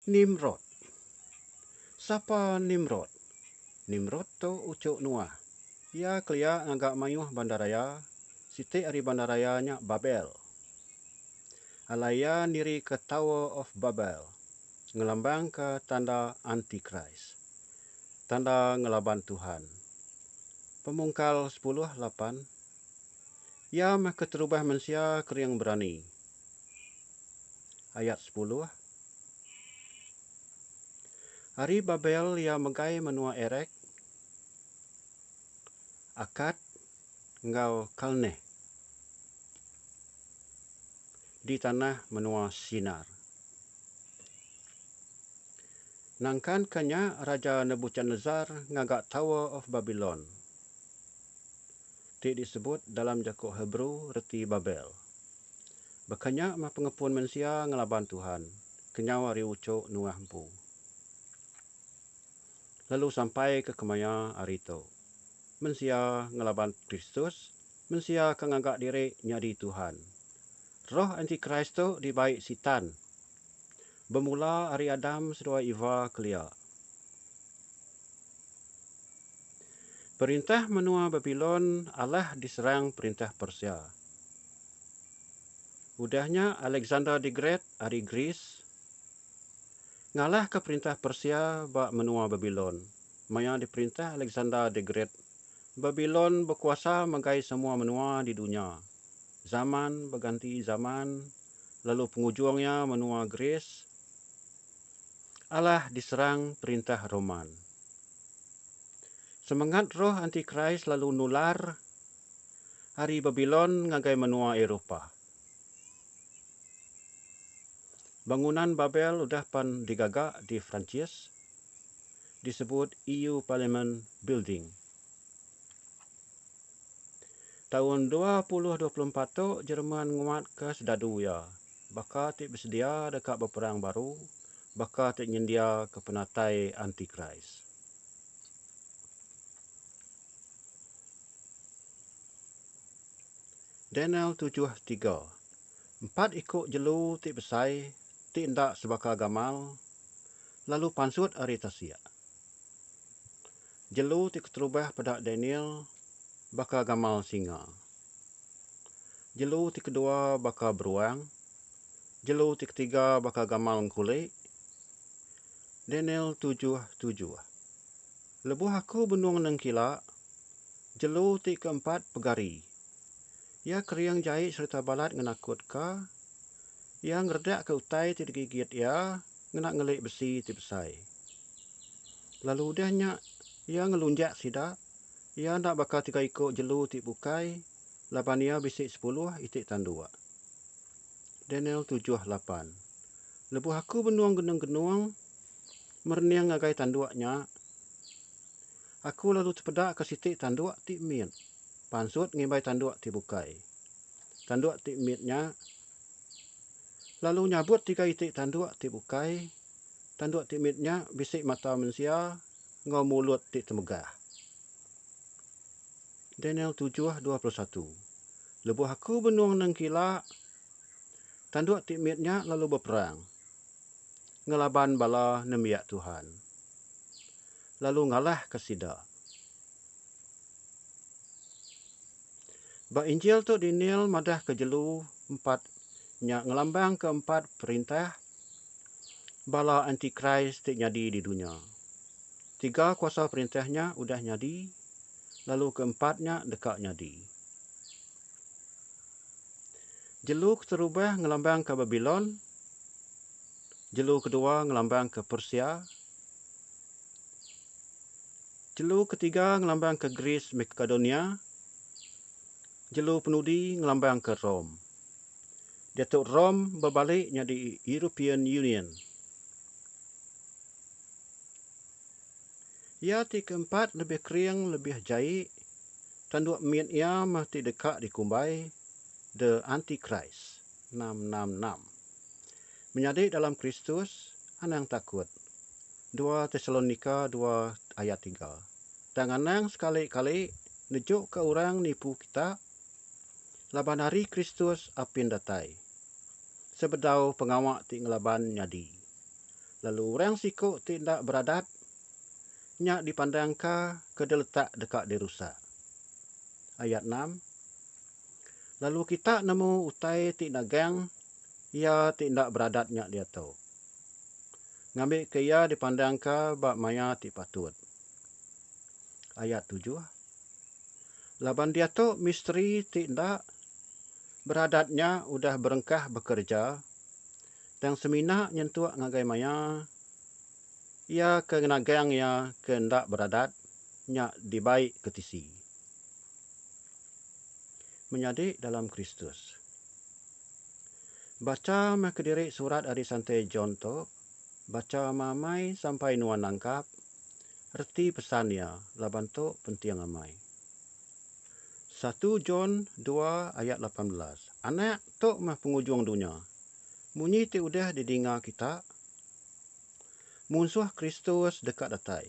Nimrod. Sapa Nimrod? Nimrod tu uchu Noah. Iya kelia ngaga mayuh bandaraya, siti ari bandaraya nya Babel. Alai iya nirika Tower of Babel, ngelambangka tanda Antikris, tanda ngelaban Tuhan. Pemungkal sepuluh lapan. Iya meh keterubah mensia kering berani. Ayat sepuluh Ari Babel iya megai menua Erek, Akad, enggau Kalneh di tanah menua Sinar. Nangkanka nya Raja Nebuchadnezzar ngaga Tower of Babylon. Ti disebut dalam jaku Hebrew reti Babel. Baka nya meh pengepun mensia ngelaban Tuhan kenyau ari uchok Noah empu lalu sampai ke kemaya hari tu. Mensia ngelaban Kristus, mensia ke ngaga diri nyadi tuhan. Roh anti-Kris tu dibai Sitan Bemula ari Adam seduai Eva kelia. Perintah menua Babilon alah diserang perintah Persia. Udah nya Alexander the Great ari Greece ngalahka perintah Persia ba menua Babilon. Maya diperintah Alexander the Great, Babilon bekuasa megai semua menua di dunya. Zaman beganti zaman lalu pengujung iya menua Greece alah diserang perintah Roman. Semengat roh antikris lalu nular ari Babilon ngagai menua Eropah. Bangunan Babel udah pan digaga di Perancis disebut EU Parliament Building. Taun dua puluh dua puluh empat tu Jerman nguatka sedadu iya baka ti besedia deka beperang baru baka ti nyendiaka penatai antikris. Daniel tujuh tiga, Empat iku jelu ti besai ti enda sebaka gamal lalu pansut ari tasik. Jelu ti keterubah peda Daniel baka gamal singa. Jelu ti kedua baka beruang. Jelu ti ketiga baka gamal engkuli. Daniel tujuh tujuh. Lebuh aku benung nengkila, jelu ti keempat pegari. Iya kering jai sereta balat ngenakutka. Iya ngeredakka utai ti digigit iya ngena ngeli besi ti besai. Lalu udah nya, iya ngelunjak sida. Iya enda baka tiga iku jelu ti bukai, laban iya bisi sepuluh iti tanduk. Daniel tujuh lapan, Lebuh aku benung genung-genung merening ngagai tanduk nya, aku lalu tepedaka siti tanduk ti mit pansut ngimbai tanduk ti bukai. Tanduk ti mit nya lalu nyabut tiga iti tanduk ti bukai. Tanduk ti mit nya bisi mata mensia enggau mulut ti temegah. Daniel tujuh dua puluh satu Lebuh aku benung nengkila, tanduk ti mit nya lalu beperang ngelaban bala nembiak Tuhan, lalu ngalahka sida. Ba Injil tu Daniel madahka jelu empat nya ngelambangka empat perintah bala antikris ti nyadi di dunya. Tiga kuasa perintah nya udah nyadi lalu ke empat nya deka nyadi. Jelu keterubah ngelambangka Babilon, jelu kedua ngelambangka Persia, Jelu ketiga ngelambangka Greece Makedonia, jelu penudi ngelambangka Rome. Diatu Rome bebalik nyadi European Union. Iya ti keempat lebih kering lebih jai, tanduk mit iya meh ti deka dikumbai The Antichrist. enam enam enam. Menyadi dalam Kristus, anang takut. Dua Tesalonika dua ayat tiga. Tang anang sekali kali nejuka orang nipu kita laban Hari Kristus apin datai. Sebedau pengawa ti ngelaban nyadi, lalu orang siku ti enda beradat nya dipandangka ke diletak deka dirusak. Ayat enam, Lalu kita nemu utai ti nagang iya ti enda beradat nya diatu. Ngambika iya dipandangka ba maya ti patut. Ayat tujuh. Laban diatu misteri ti enda beradat nya udah berengkah bekereja tang semina nyentuk ngagai maya iya ke nagang iya ke enda beradat nya dibai ke tisi. menyadi dalam Kristus. Bacha meh kediri surat ari Santi John tu, bacha meamai sampai nuan nangkap reti pesan iya laban tu penting amai. Satu John dua ayat lapan belas, Anak, tu meh pengujung dunya. Munyi ti udah didinga kita? Munsuh Kristus deka datai.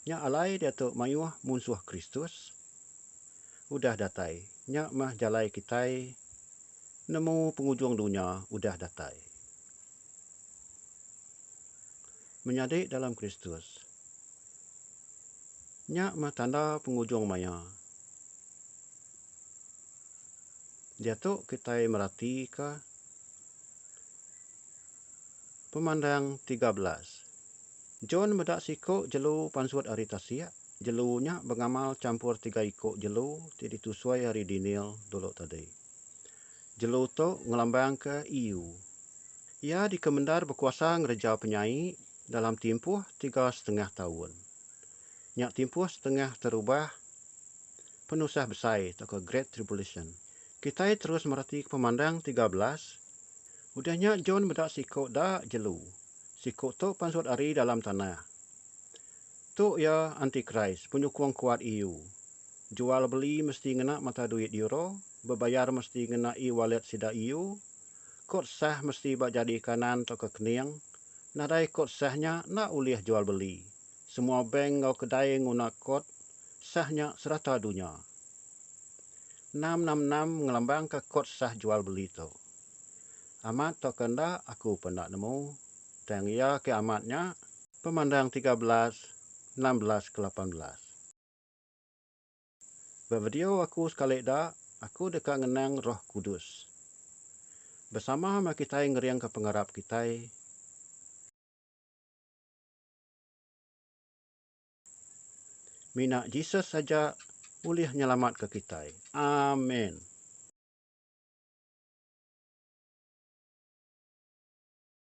Nya alai diatu mayuh munsuh Kristus udah datai. Nya meh jalai kitai nemu pengujung dunya udah datai. Menyadi dalam Kristus. Nya meh tanda pengujung maya. Diatu kitai meratika Pemandang tiga belas. John meda siku jelu pansut ari tasik. Jelu nya bengamal champur tiga iku jelu ti ditusui ari Deniel dulu tadi. Jelu tu ngelambangka Iu. Iya dikemendar bekuasa ngereja penyai dalam timpuh tiga setengah taun. Nya timpuh setengah terubah Penusah Besai tauka Great Tribulation. Kitai terus meratika pemandang tiga belas. Udah nya John meda siku da jelu. Siku tu pansut ari dalam tanah. Tu iya antikris, penyukung kuat EU. Jual beli mesti ngena mata duit euro, bebayar mesti ngena e-wallet sida EU, kod sah mesti ba jari kanan tauka kening, nadai kod sah nya enda ulih jual beli, Semua bank enggau kedai nguna kod sah nya serata dunya. Enam enam enam ngelambangka kod sah jual beli tu. Amat tauka enda aku pun enda nemu, tang iya ke amat nya. Pemandang tiga belas, enam belas ke lapan belas. Ba video aku sekali da, aku deka ngenang Roh Kudus. Besama meh kitai ngeringka pengarap kitai. Mina Jesus aja ulih nyelamatka kitai. Amen.